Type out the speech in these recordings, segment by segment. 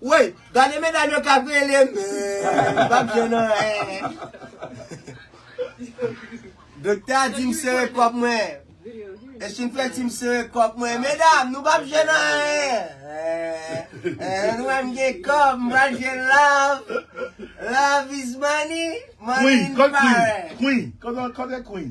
Woy gade medam yo kap rele menm pap jwenn anyen. Doktè a dim sere kòk mwen. Ech fin fè dim sere kòk mwen. Medam nou pap jwenn anyen. Nou wèm gen kòb m pral jwenn love. Love is money, money in parent. Queen, kote queen?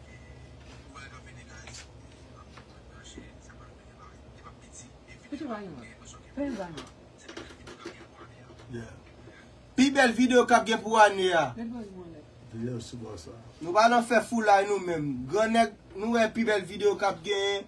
Pi bèl video kap gen pou ane a. Nou pa nan fè foulay nou menm. Gran nèg nou wè pi bèl video kap gen.